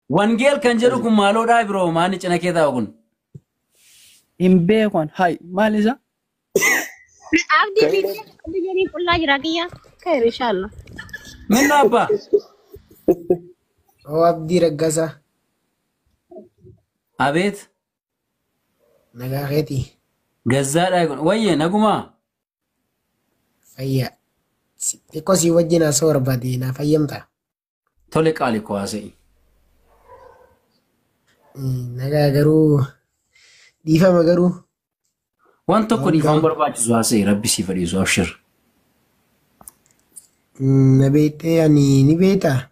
Wangeel kan jedhu kun maaloodhaa biroo maanni cina kee taa'u kun. Hin beeku an hay maal isa? Abdi Kayra video abdi jeni kulla jira kiya. Khair inshallah. Minna abba. Oo abdii raggasaa Abeet. nagaa keetii Gazzaadhaa kun. Wayye nagumaa. fayyaa Si- xiqqoo sii wajjin haasoo barbaade naaf hayyamtaa? Tole qaali koo haasa'i. Nagaa garuu dhiifama garuu Waan tokko Waan dhiifama gaaf- barbaachisu haasa'i rabbi siif dhiisu abshir. mm, na beektee ani ni beektaa?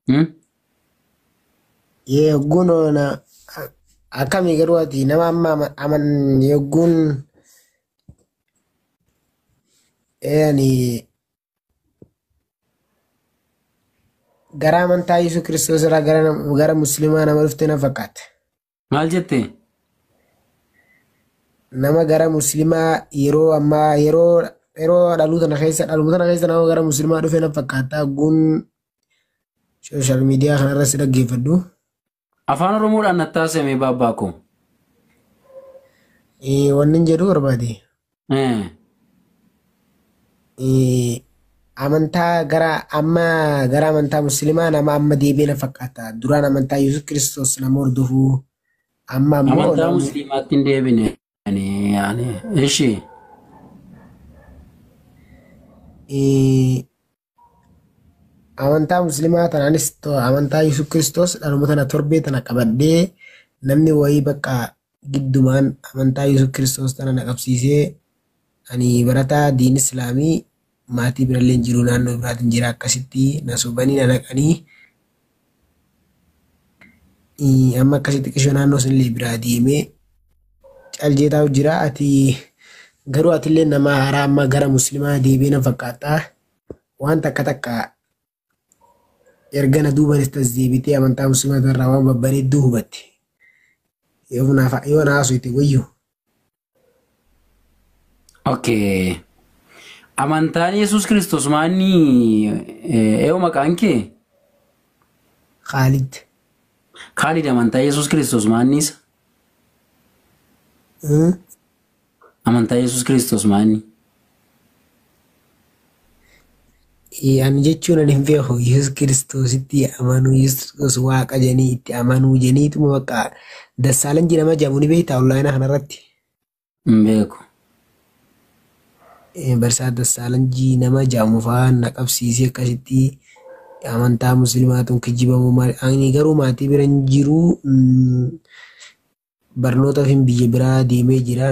Hmm? Yee yogguun na akkamii garuu ati nama amma ama- aman yogguun ee ani Gara amantaa Yesuus Kiristoos irraa gara nam- gara musliimaa nama dhufte na fakkaata. Maal jette? Nama gara musliimaa yeroo ammaa yeroo yeroo dhaluu tana keessa dhaluma tana keessa nama gara musliimaa dhufe na fakkaata. Guun sooshaal miidiyaa kanarratti dhaggeeffadhu. Afaan Oromoodhaan nattaa seemee baabbaa koo. Eh, Wannin jedhu barbaade. Eh, Eh, Amantaa gara amma gara amantaa musliimaa nama amma deebi'e na fakkaata. Duraan amantaa Yesuus Kiristoos nama hordofu. Amma ammoo Amantaa nama musliimaatti hin deebine. Ani, ani, ishii. eh, Amantaa muslimaa tanaanis to- amantaa Yesuus Kiristoos dhaluma tana torbee tana qabadhee namni wayii bakka giddumaan amantaa Yesuus Kiristoos tana na qabsiisee ani barataa diin Islaamii maatii birallee hin jiru naannoo biraatiin jira akkasitti na sobanii na naqanii Ii, amma akkasii xiqqishoo naannoo sunillee biraa deemee cal jeetaa jira ati garuu atillee nama haaraa amma gara muslimaa deebee nan fakkaata waan takka takka erga na duubanis tas deebitee amantaa muslimaa irraa waan babbareedduu hubatte yoo naaf yoo na haasofte wayyu Okay. Amantaan Yesuus Kiristoos maanni eeyo maqaan kee? Khaalid. Khaalid amantaa Yesuus Kiristoos maanni isa? Eh? Amantaa Yesuus Kiristoos maanni? Ee, ani jechuun ani hin beeku Yesuus Kiristoositti amanuu Yesuus waaqa jenii itti amanuu jeniituma bakka Dassaalan jedhama jedhamu ni beektaa onlaayina kanarratti hin beeku. Eh, Barsaa Dassaalanjii nama jedhamu fa'aa na qabsiisee akkasitti amantaa musliimaatuun kijibamuu maal ani garuu maatii bira hin jiru mm, barnootaaf hin biyya biraa deemee jira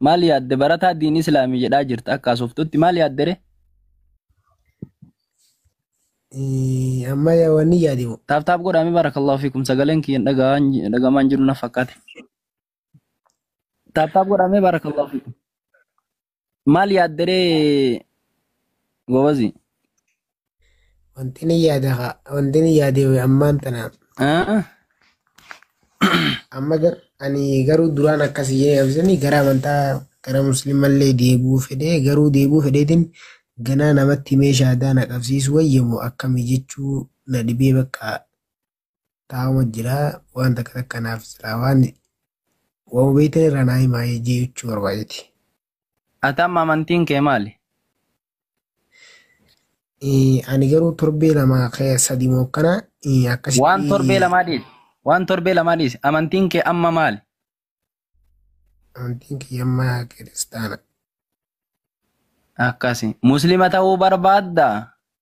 maal yaadde barataa diin islaamii jedhaa jirta akka asoftutti maal yaadde re Eh, Amma yaa wanni yaade moo? taaf taaf godhaame barakallahu fiikum sagaleen kiyyan dhaga'aan dhagamaan jiru na fakkaate taaf taaf godhaame barakallahu fiikum maal yaadde re gobazi Wanti ni yaada haa. Wanti ni yaadee wayii ammaan tana. Ah, Amma gar- ani garuu duraan akkas jedhee absanii gara amantaa gara musliimallee deebi'uu fedhee garuu deebi'uu fedheetiin ganaa namatti meeshaa aadaa na qabsiisu wayyamu akkamii jechuu na dhibee bakka taa'uma jira waan takka takka naaf silaa waan waan beektan irraa naa himaa jechuu barbaadeti. Ati amma amantiin kee maali? Eh, Ani garuu torbee lama kee sadi moo akkana eh, akkasitti Waan torbee lamaa dhiisi. Waan torbee lamaa dhiisi. Amantiin kee amma maali? amantiin kiyya amma kiristaana. Akkasi. Muslima ta'uu barbaadda?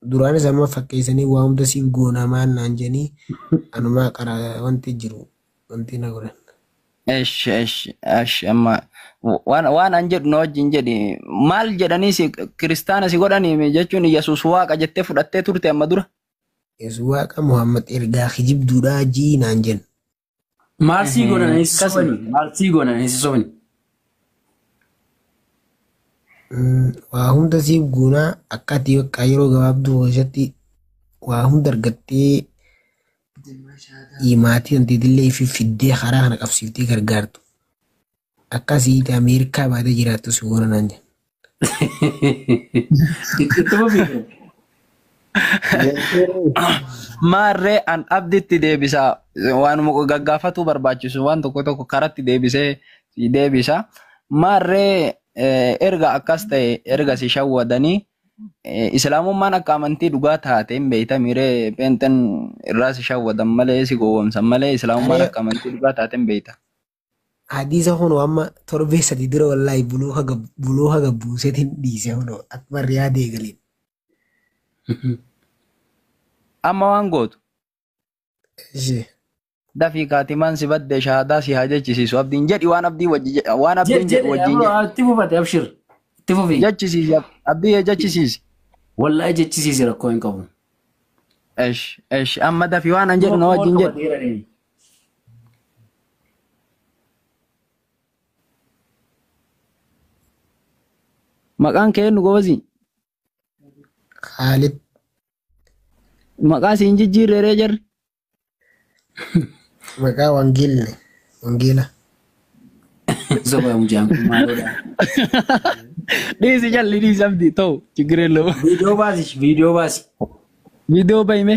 Duraanis amma fakkeessanii waa hunda siif goonaa maal naan jedhanii anumaa qara wanti jiru wanti na godhan. Esh esh esh amma waan waan an jedhu na wajjin jedhi maal jedhanii si kiristaana si godhanii jechuun Yesuus waaqa jettee fudhattee turte amma dura. Yesuus waaqa Muhammad ergaa kijibduudhaa ji'i naan jedhan. Maal sii godhan hin si sobani. Maal sii godhan hin si sobani. Waa hunda siif guunaa akka ati bakka yeroo gabaabduu keessatti waa hunda argattee maatii hanteetillee fi fiddee karaa kana qabsiiftee gargaartu. Akkasii iti Ameerikaa baatee jiraattu si goona naan jedhe. Ittuma fiigan. Maarree an abditti deebisaa waanuma gaggaafatuu barbaachisu waan tokko tokko karatti deebisee si deebisa. Maarree eh, erga akkas ta'e erga si shawwadanii eh, islaamummaan akka amantii dhugaa taate hin beektamiree peenxen irraa si shawwadan malee si gowwomsan malee islaamummaan Ani akka amantii dhugaa taate hin beekta. Hadiisa kunoo amma torbee sadi dura wallaahi buluuka gab buluuka gab buuseetiin dhiise kunoo akkuma riyaada eegaliin. Amma waan gootu Ishee. dafii kaatimaan si badde shahaadaa si haa jechisiisu abdiin jedhi waan abdii wajji je- waan Jed abdiin jedhu jedhe wajjin amma jedhi itti fufate abshir itti fufi jechisiisi ab- abdii yee jechisiisi. wallaahi jechisiisi rakkoo hin qabu. Esh esh amma dafii waan an jedhu na Kuma wajjin jedhi. qabateera inni. Maqaan kee eenyu gobazi? Kaalid Maqaa siin jijjiirre ree jarri? maqaa wangeelli wangeela Soba mucaan kun maalodha? Dhiisi jalli dhiisi abdi ta'u chiggiree loo. Viidiyoo baasi, viidiyoo baasi. Viidiyoo bahime.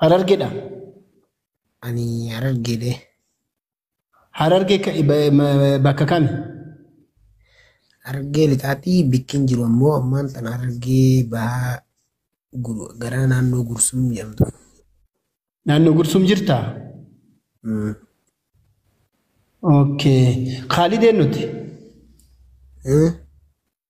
Harargedha. Ani harargeedhe. Hararge ka- ba- ma- bakka kami? Harargee lixaatti bikkiin jiru ammoo ammaan tan harargee bahaa gur- gara naannoo gursum jedhamtu. Naannoo Gursum jirtaa? Mm. Okay. Khaalideen nuti. Eh?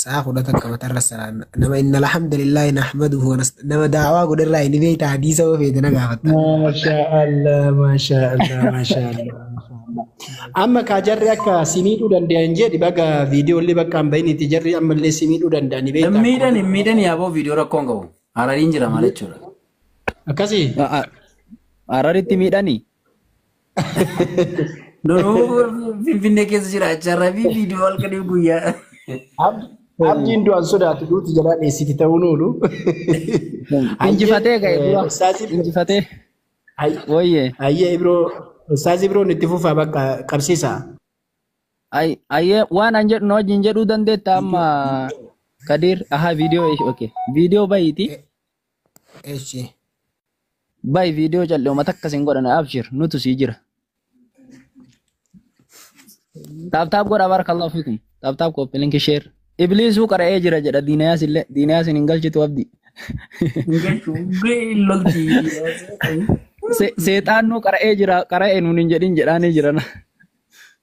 Saa kudha takka matarra salaanna. Nama inna alhamdulillahi nahmaduhu wa nasta- nama daawaa godherraa inni beekta hadiisa yoo feete na gaafatta. Maashaa Allah, maashaa Allah, maashaa Allah. Amma kaa jarri akka si miidhuu danda'an jedhi baga viidiyoo illee bakka hin bahinitti jarri ammallee si miidhuu danda'an ni Hin beekta. miidhan hin miidhan yaaboo viidiyoo rakkoon qabu. Harariin jira maal jechuudha. Akkasii? Hararitti miidhani. Duruu Finfinnee keessa jiraachaa rabii viidiyoo halkanii guyyaa. Abdi abdiin du'an sodaatu duuti jalaa dheessiti ta'uun oolu. Hayyee Injifatee ga'e eh, dura. ustaazii biroo Injifatee. hay- Wayye. hayyee biroo ustaazii biroon itti fufaa bakka qabsiisa. Ay- Ayyee waan an jedhu na wajjin jedhuu dandeetta amma Kadiir. Ahaa viidiyoo eesh okay. Viidiyoo bayiiti. Eshi. Bay video calli uma takka sin godhana abshir nutu si jira. Tap tap godha barakallahu fikum. Tap tap copy link share. Iblisu qara'ee jira jedha diinayaa sille diinayaa sin hin galchitu abdi. Se- Seexaan nu qara'ee jira qara'ee nuun hin jedhin jedhaanii jirana.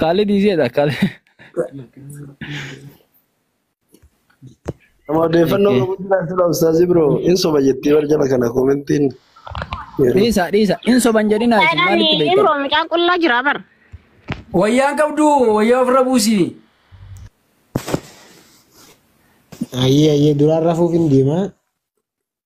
Kaalid iseedha kaalid. Nama odeeffannoo qabu jira sila ustaazi bro. In soba jettee bar jala kana komentiin. Dhiisa dhiisa in soban jedhinaa isin Saidaan maalitti beektan? Imroo mucaa qullaa jira bar. Wayyaan qabdu wayyaa ofirra buusi. Ayyee ayyee duraan rafuuf hin deemaa.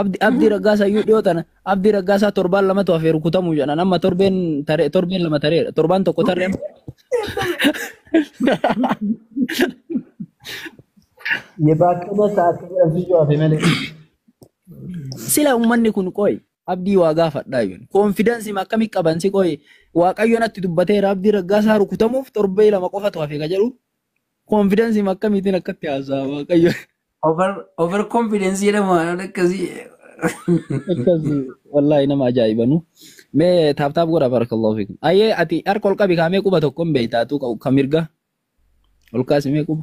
Abdi Abdi Raggaasaa iyyuu dhiyoo tana Abdi Raggaasaa torbaan lamatu hafee rukutamuu jedhan amma torbeen taree torbeen lama tareedha torbaan tokko taree Yebaakana sa'aatii jedhamsiisuu hafe malee. sila ummanni kun qoy abdii waa gaafadhaa jiru koonfidansi akkamii qaban si qoy waaqayyoon atti dubbateera abdii raggaasaa rukutamuuf torbee lama qofatu hafe ka jedhu Konfidansiin akkamiitiin akkatti haasa'a waaqayyo Over over confidence jedhamu waan akkasii. akkasii wallaahi nama ajaa'ibanu. Mee taaptaap godha barakallahu fiikum. Ayyee ati harka ol qabi kaamee quba tokko hin beektaatu ka mirga ol kaasi mee quba.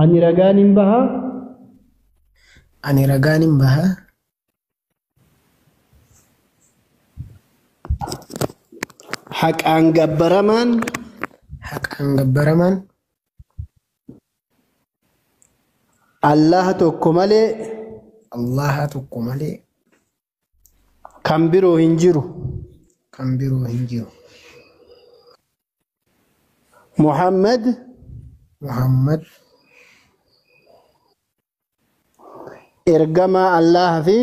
Ani ragaan hin baha. Ani ragaan hin baha. Haqaan gabbaramaan. Haqaan gabbaramaan. Allaha tokko malee. Allaha tokko malee. Kan biroo hin jiru. Kan biroo hin jiru. Muhammad Muhammad ergamaa Allaah fi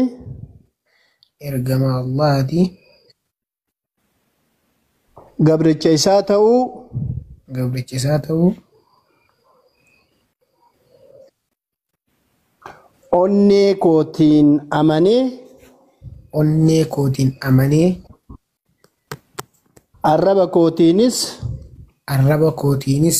ergamaa Allaahati. gabricha isaa ta'uu gabricha isaa ta'uu onnee kootiin amanee onnee kootiin amanee arraba kootiinis arraba kootiinis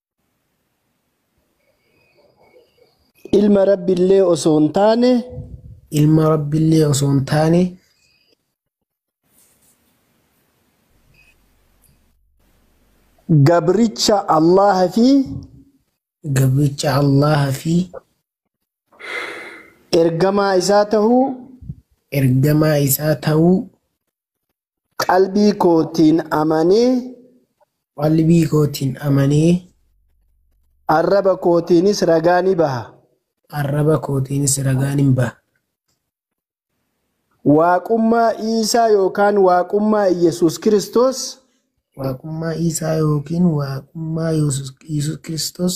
ilma rabbillee osoo hin taane ilma rabbillee osoo hin taane gabricha allaha fi gabricha allaha fi ergamaa isaa tahuu ergamaa isaa ta'uu Qalbii kootiin amanee. Qalbii kootiin amanee. Arraba kootiinis ragaa ni baha. Arraba kootiinis ragaa ni baha. Waaqummaa Iisaa yookaan Waaqummaa Iyyasuus Kiristoos. Waaqummaa Iisaa yookiin Waaqummaa Yesuus Kiristoos.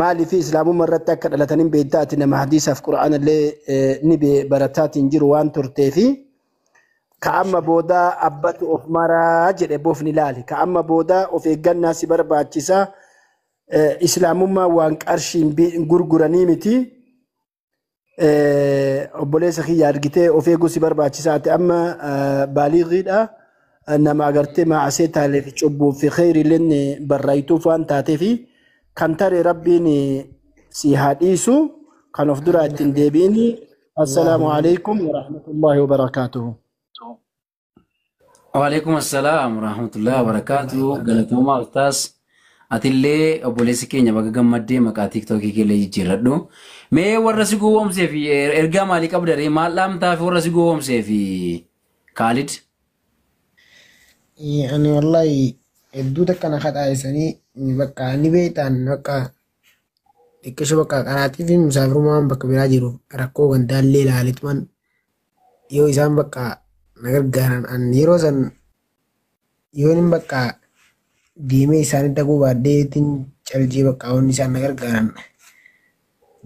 Maaliif islaamumma irratti akka dhalatan hin beektaa ati nama hadiisaaf qura'aana illee ni barataatiin jiru waan turteefi ka amma booda abbatu of maraa jedhe bofni laali ka amma booda of eeggannaa si barbaachisa islaamummaa waan qarshiin gurguranii miti Obboleessa kiyya argitee of eeguu si barbaachisa ati amma baaliigiidha nama agartee maasee taalee fi cubbuu fi kheyriileen barraayituuf waan taatee fi kan tare rabbiin si haa dhiisu kan of duraa ittiin deebi'ini. Assalaamu alaikum wa rahmatullahi wa barakaatuhu. Waalaikum assalam warahmatullahi wabarakatuh. Galatoomaa Ustaas. Atillee obboleessi keenya baga gammaddee maqaa tiiktookii keellee jijjiirradhu. Mee warra si gowwoomsee fi er- ergaa maalii qabda ree? Maal dhaamtaa fi warra si gowwoomsee fi Kaalid? Eh, Ani wallahi hedduu takka na kadhaayisanii ni bakka ni beektaan bakka xiqqisho bakka qaraatii fi musaafirumaan bakka biraa jiru rakkoo gandaallee ilaaletuman yoo isaan bakka na gargaaran an yeroo san yoonin bakka deemee isaanii dhaquu baadheetiin caljee bakka wanni isaan na gargaaran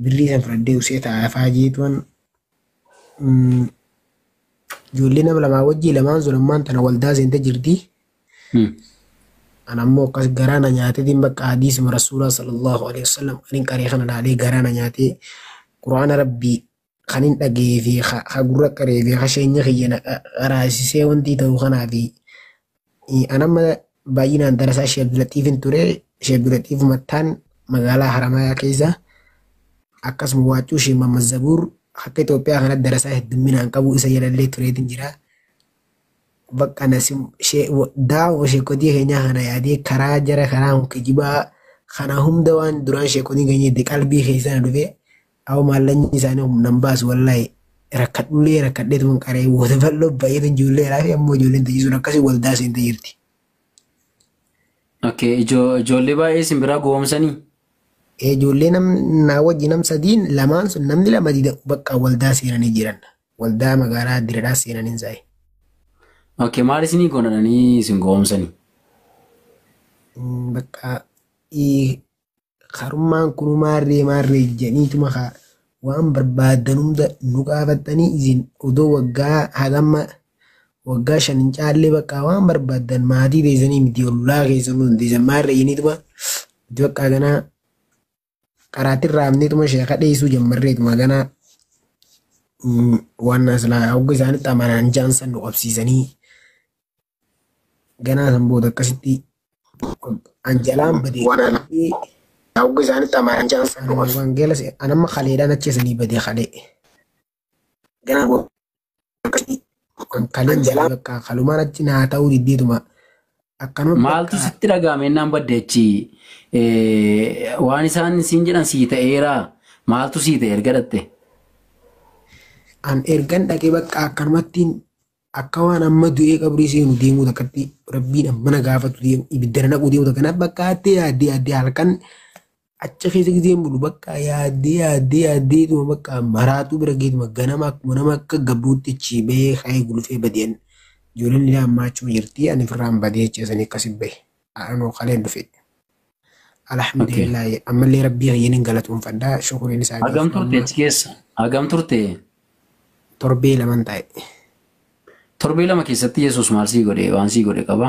birrii san fudhadhee usee taa'aa faa jeetuman mm, ijoollee nama lamaa wajjii lamaan sun ammaan tana waldaa seente jirti Hmm. an ammoo akkas garaa na nyaatetiin bakka hadiisuma rasuulaa sallallahu alaihi wasallam kanin qaree kana laalee garaa na nyaatee quraana rabbii kan hin dhagee fi ha gurra qaree fi ha sheenya kiyya na qaraasisee wantii ta'u kanaa fi an amma baay'inaan darasaa Sheek Abdulaxiifin ture Sheek Abdulaxiif Mattaan magaalaa Haramayaa keessa akkasuma waacuu Sheek Mamman Zabuur akka Itoophiyaa kanatti darasaa heddumminaan qabu isa jalallee tureetiin jira. Bakka nasi daawoo sheekotii keenyaa kana yaadee karaa jara karaa kijibaa kana hunda waan duraan sheekotiin keenya itti qalbii keessa na dhufe Awo maallanyi isaanii humnan baasu wallahi rakkadhullee rakkadheetuman qaree wada bal'oo baay'eetu ijoollee iraafi ammoo ijoolleen tajaajisuun akkasii waldaa seentee jirti. Okay, ijo- ijoollee baay'ee isin biraa gowwoomsanii? Ee, Ijoollee nam naa wajji nam sadiin lamaan sun namni lama dida bakka waldaa seenanii jiran. Waldaa magaalaa diradhaa seenanii isaanii. Okay, maal isinii godhanii isin gowwoomsanii? Mm, Bakka ii- Karummaan kunu maarree maarree janiituma kaa waan barbaaddan hunda nu gaafattanii isin odoo waggaa hagamma waggaa shan hin caallee baqqaa waan barbaaddan maatii teessanii miti ollaa keessan nu hundeessan maarree janiituma nuti baqqaa ganaa qaraatiin raafneetuma sheeka dheessuu jammarreetuma ganaa waan aslaa hogga isaanitti amanaan jaan san nu qabsiisanii ganaa san booda akkasitti an jalaan bade waraanamee hogga isaanitti amaaran jalan san boqon wangeela se- an amma kaleedhaan achi isanii bade kalee ganaa booda akkasitti an kaleen bade jalaan bakka kalumaan achi naa ta'uu diddeetuma akkanuma Maaltu bakka sitti dhaga'ame innaan badde achi Eh, waan isaan siin jedhan sii ta'eera maaltu sii ta'e erga dhatte an ergan dhaqee bakka akkanumattiin akka waan amma du'ee qabrii seenu deemuu takkatti rabbiin amma na gaafatu deemu ibiddana naquu deemu takka naaf bakka hattee yaaddee yaaddee halkan acha keessa gizeen bulu bakka yaaddee yaaddee yaaddee tuma bakka maraatuu bira geetuma ganama akkuma nama akka gabruutti achii bahee ka'ee gulufee badeen ijoolleen ilaa ammaa achuma jirti ani firraan badee jecha sanii akkasi bahe. anoo kaleen dhufe okay alhamdulillah ammallee rabbii kiyyanin galatoomfadha shukuriin isaa hagam gaafuu turte amma achi keessa hagam turte torbee laman taa'e torbee lama keessatti yesus maal sii godhe waan sii godhe qaba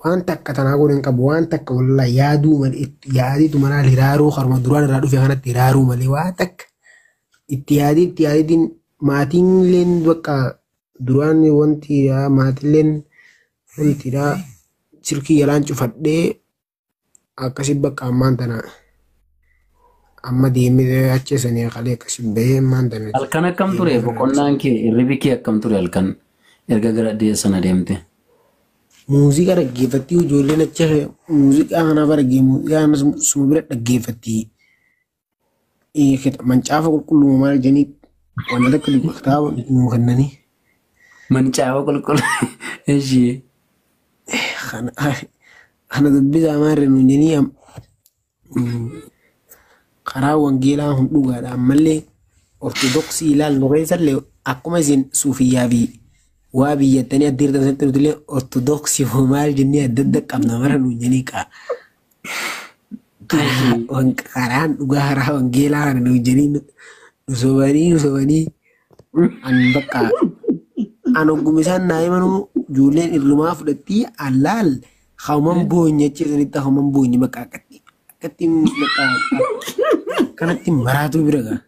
waan takka tanaa godhan qabu waan takka wallah yaaduu malee itti yaaditu manaa hiraaruu harma duraan irraa dhufe kanatti hiraaruu malee waa takka itti yaadii itti yaaditiin maatiin illeen bakka Duraan wanti maatilleen wantiidha silkii jalaan cufadhee akkasi bakka ammaan tana amma deemee achi sanii kalee akkasi bahee ammaan tana. Halkan akkam ture boqonnaan kee hirribi kee akkam ture halkan erga gara deessa sana deemte. Muuziqaa dhaggeeffattii ijoolleen achi muuziqaa kanaaf argee muuziqaa kanas suma bira dhaggeeffattii. Mancaafa qulqulluu maal jedhanii waan akka dubbii kitaaba nuu kennanii. Mancaafa qulqulluu. Ishii. Kana dubbisaa maarree nuun jedhanii am- mm, karaa wangeelaa kun dhugaadha ammallee ortodoksii ilaallu keessallee akkuma isin suufiyyaa fi waa biyyattanii adda hirtan sanatti nutillee ortodoksii hoo maal jennee adda adda qabna mara nuun jedhanii kaa Wanka karaan dhugaa karaa wangeelaa kana nuun jedhanii nu sobanii nu sobanii an bakka an ogguma isaan naa himanuu ijoolleen irrumaa fudhattii allaal hauman boonye achi sanitti hauman boonye bakka akkatti akkatti bakka kanatti maraatuu bira gaa.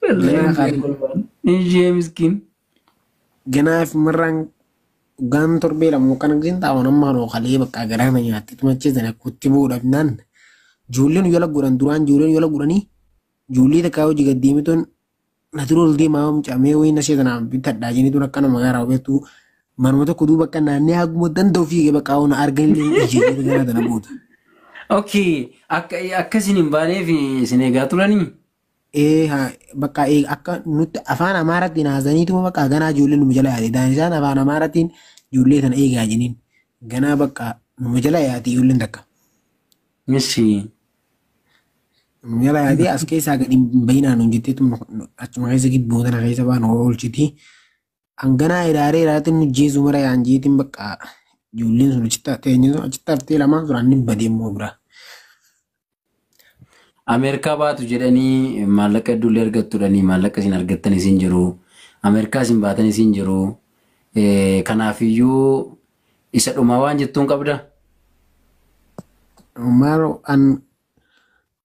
Ganaa kaadhi. Ishee miskiin. Ganaaf marraan Dhugaan torbee lama kan argisiin taa'uun amma kanoo kalee bakka garaa na nyaatte tumachee sana kutti buu dhabnaan ijoolleen yola godhan duraan ijoolleen yola godhanii ijoollee takkaa hojii gad deemituun na dura ol deemaa mucamee wayii na seetan aan bitadhaa jenituun akka nama garaa beektuu manuma tokko duuba akka naannee haguma danda'u fiigee bakka hawwana arganillee ni dhiisee gara tana booda. Okay, akka akkasiin hin baaneef isin eegaa turanii? ee haa bakka ee akka nutti afaan amaarattiin haasaniituma bakka ganaa ijoollee numa jala yaate daan isaan afaan amaarattiin ijoollee tana eegaa jeniin ganaa bakka numa jala yaate ijoolleen takka Ishi. numa jala yaate as keessaa gadi hin bayinaa nuun jetteetu achuma keessa gidduu tana keessa baan oolchitii Hanganaa hiraaree hiraatiin mujjeesuu mara yaan jeetiin bakka ijoolleen sun achitti haftee eenyuun sun achitti haftee lamaan sun anni badee immoo bira. Ameerikaa baatu jedhanii maallaqa hedduullee argattudhanii maallaqa isin argattan isin jiru. Ameerikaa isin baatan isin jiru. Kanaafiyyuu isa dhumaa waan jettuun qabda. Maal an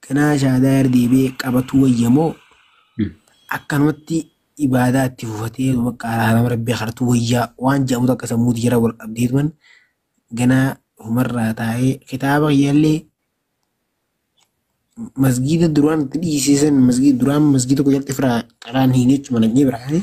Ganaa shahaadaa irra deebi'ee qabatuu wayya moo akkanumatti ibaadaa itti fufatee bakka araarama rabbii kadhatuu wayyaa waan jedhamu takka sammuu tiyya irra wal qabdee tuman ganaa humarraa taa'ee kitaaba kiyyallee masgiida duraan itti dhiisiisan masgiida duraan masgiida tokko jalatti firaa qaraan hin jechuma nagni biraa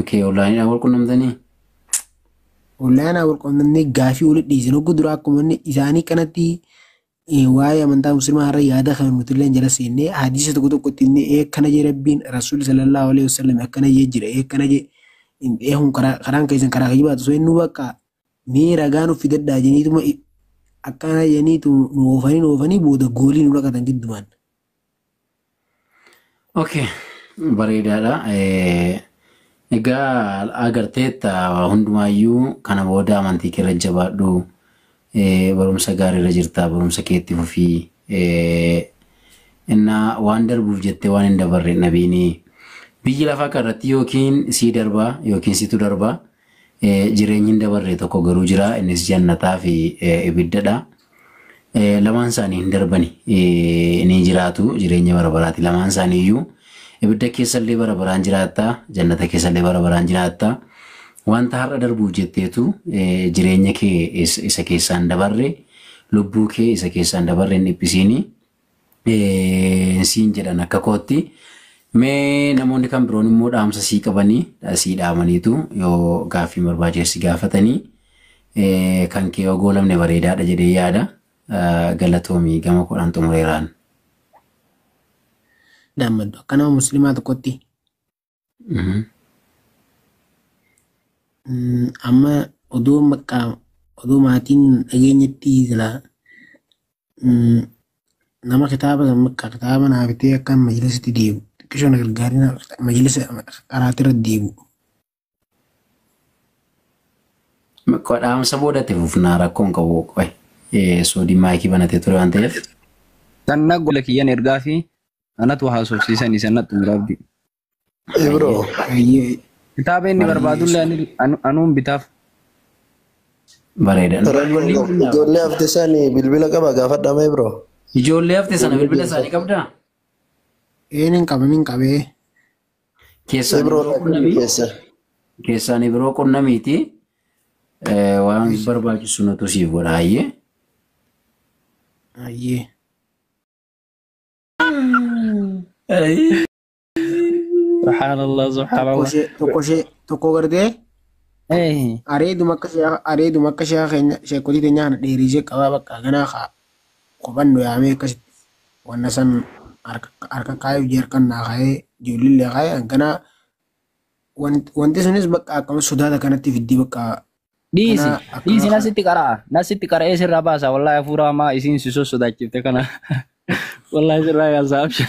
Okay, onlaayiniidhaan wal qunnamtanii? Onlaayinaa wal qunnamnee gaafii walitti dhiyeessin hogguu duraa akkuma inni isaanii kanatti eh, waa'ee amantaa muslimaa irra yaada kan nuti illee jala seennee hadiisa tokko tokko itti himnee ee akkana jee rabbiin rasuulli sallallahu alaihi wasallam akkana jee jira ee akkana jee ee kun karaa karaan keessan karaa kijibaatu osoo inni bakka mee ragaa nuuf fidadhaa jeniituma akkana jeniitu nu oofanii nu oofanii booda goolii nu dhaqatan giddumaan. Okay, bareedaadha. Eh, Egaa agarteetta hundumaayyuu kana booda amantii kee irra jabaadhu. Eh, Barumsa gaarii irra jirta. Barumsa keetti fufii. Eh, Innaa waan darbuuf jettee waan hin dabarre nabiini. Biyyi lafaa kana irratti yookiin sii darba yookiin situ darba. Jireenyi hin dabarre tokko garuu jira, innis jannataa fi ibidda dha. Lamaan isaanii hin darbani, ni jiraatu, jireenya bara baraati. Lamaan isaanii iyyuu ibidda keessa illee bara baraan jiraatta, jannata keessa illee bara baraan jiraatta. Wanta har'a darbuuf jetteetu eh, jireenya kee is- isa keessaa hin dabarre, lubbuu kee isa keessaa hin dabarre hin dhiphisiini. siin jedhan akka kootti. Mee namoonni kan biroon immoo dhaamsa sii qabanii sii dhaamaniitu yoo gaaffii barbaachise si gaafatanii kan kee yoo goolamne bareedaadha jedhee yaada. Galatoomii gama kudhan xumureeraan. Dhaammadhu akka nama musliimaa tokkotti. Amma odoo maqaa odoo maatiin dhageenyetti jira nama kitaaba san maqaa kitaaba naa bitee akka majlisatti deemu xiqqisho na gargaarina majlisa qaraatirra deemu. Maqaa dhaamsa boodatti fufnaa rakkoon qabu qoy soodii maayikii banatee ture waan ta'eef. Kan na gola kiyyan ergaa fi Anatu haasofsiisan isa natti mura abdii. Ibro. Kitaaba inni barbaadullee ani- anu- anuun bitaaf. Bareeda. Ijoollee keenyaaf. Ijoollee hafte sani bilbila qaba gaafadhaa mee bro. Ijoollee hafte sana bilbila isaanii qabdaa? Een hin qabu hin qabee. Keessaan Ibro biroo qunnamii? keessa. Keessaan biroo qunnamiiti. Eh, Waan barbaachisu nutu siif godha hayyee. Ayyee. Subhaanallah tokko subhaanallah. ishee tokko ishee tokko gartee Eh, areeduma akka sheekha areeduma akka sheekha keenya sheekotii keenya kana dheeriisee qabaa bakka ganaa kaa kophannu yaamee akkasitti wanna san harka harka kaayuu jee harkan naa kaayee ijoollee kaayee hanganaa wanti sunis bakka akkam sodaata kanatti fiddii bakka Dhiisi. Kanaa Dhiisi akkanaa kana. nasitti qara'a. Nasitti qara'ee sirraa baasa. Wallaahi hafuura hamaa isiin si sossodaachifte kana. Wallaahi sirraa yaasaa abshir.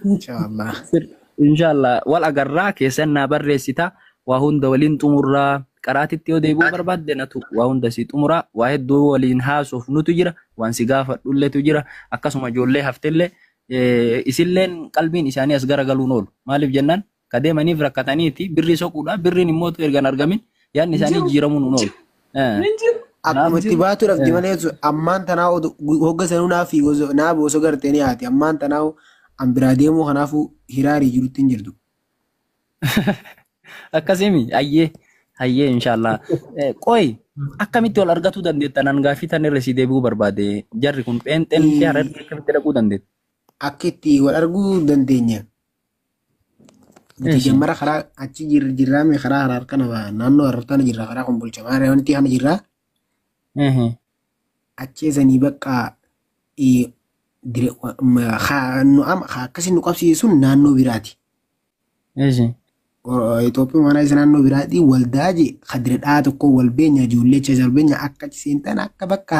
Inshallah. Sir- Inshallah wal agarraa keessan naa barreessita. Waa hunda waliin xumurraa. Qaraatitti yoo deebi'uu barbaadde natu waa hunda si xumuraa. Waa hedduu waliin haasofnutu jira. Waan si gaafadhulletu jira. Akkasuma ijoollee haftellee eh, isilleen qalbiin isaanii as garagaluun oolu. Maaliif jennaan Ka deemaniif rakkataniiti birrii soquudha. Birriin immoo erga hin argamin yaadni isaanii Jiru. jijjiiramuun hin oolu. Eh, Hin jiru. Akkuma Naaf itti jiru. baatu dhabdi Eh. malee osoo- ammaan tanaa odu- gu- hogga sanuu naa fiigu osoo- naa bu osoo gartee ni haati ammaan tanaa an biraa deemuu kanaafuu hiraarii jirutti hin jirtu. Akkasimi ayyee ayyee inshaallah. Eh, Qoy akkamitti wal argatuu dandeettan an gaaffii tan irra si deebi'uu barbaade jarri kun pheenxeen fi hararri akkamitti dhaquu dandeettu? Akka itti wal arguu dandeenya. Nuti jammara karaa achi jirra jirraa mee karaa haraar kana ba- naannoo haraar kana jirra karaa kun bulcha maaree wanti kana jirra achee sanii bakka eh, dire- wa- ma- haa- nu ama haa akkasi nu qabsiisu sun naannoo biraati. O- Itoophiyaa maanaa isa naannoo biraati waldaa je kadira dhaa tokko wal beenya ijoollee achi wal beenya akka achi seentan akka bakka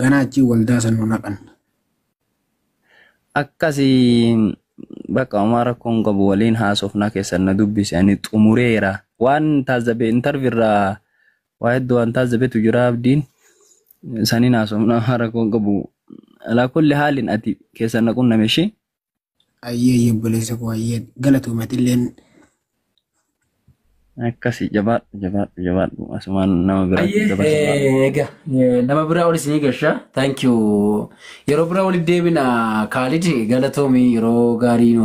Ganaa achii waldaa san nu naqan. Akkasi bakka homaa rakkoo hin qabu waliin haasofnaa keessan na dubbise ani xumureera. Waan taazzabe intarvi irraa waa hedduu waan taazzabetu jira abdiin saniin haasofnaa homaa rakkoo hin qabu. Alaa kulli haalin ati keessan na qunname ishee. Ayyee ayyee obboleessa koo ayyee galatoomi atilleen. Akkasi jabaadhu jabaadhu jabaadhu asumaan nama bira Ayyee dabarsa baala. eh, egaa eh, nama biraa ol isinii gasha thank you yeroo biraa walitti deebina kaalid galatoomi yeroo gaarii nu